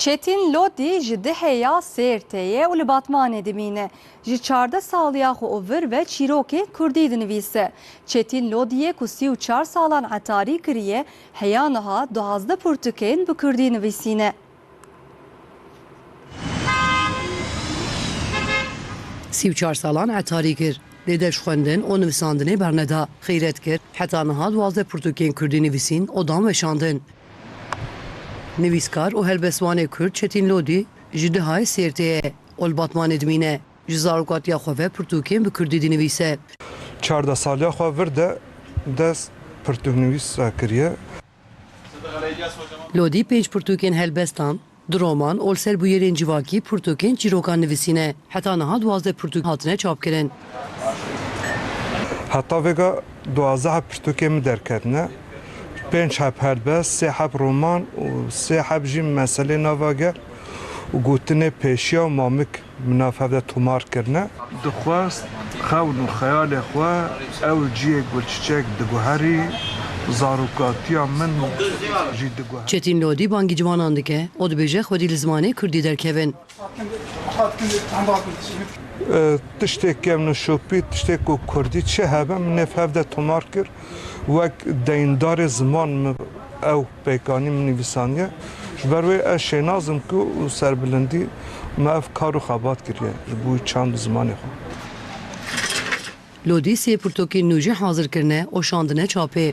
Çetîn Lodî ji Dihê ya Sêrtê ye û li Batmanê dimîne. Ji çardeh saliya xwe û vir ve çîrokê kurdî dinivîse. Çetîn Lodîyê ku sî û çar salan etarî kiriye, heya niha duwazdeh pirtûkên bi kurdî nivîsîne. Sî û çar salan etarî kir, lê deş xwendin û nivisandinê berneda. Xîret kir, heta niha duwazdeh pirtûkên kurdî nivîsîn û dan weşandin. Nivîskar û helbestvanê Kurd Çetîn Lodî ji Dihayê Sêrtê ye. Ol li Batmanê dimîne. Ji zarokatiya xwe ve pirtûkên bi Kurdî dinivîse. Çardeh saliya xwe vir de dest pirtûknivîsa kiriye. Lodî pênc pirtûkên helbestan Di roman ol ser bûyerên civakî pirtûkên çîrokan nivîsîne. Heta niha duwazdeh pirtûk hatine çapkirin. Heta vêga duwazdeh pirtûkên min derketine. Pênc heb helbest, sê heb roman û sê heb jî meselê nava gel û gotinê pêşiya û mamik. Mina fevde tomar kirine. Dixwest xewn û xeyalê xwe ew ciyê gulçiçek diguherî, zarokatiya min jî diguherî. Çetîn Lodî bangî ciwanan dike û dibêje xwedî li zimanê kurdî derkevin. Tiştê kevnû şopî, tiştê ku kurdî çi hebe min nê fevde tomar kir. Wek deyindarê ziman min ew pêkanî min nivîsandiye. Ji ber wê ez şênaz im ku û serbilindî me ev kar û xebat kiriye ji bo wî çand û zimanê xwe. Lodî sê pirtokên nû jî hazir kirine û şandine çapê.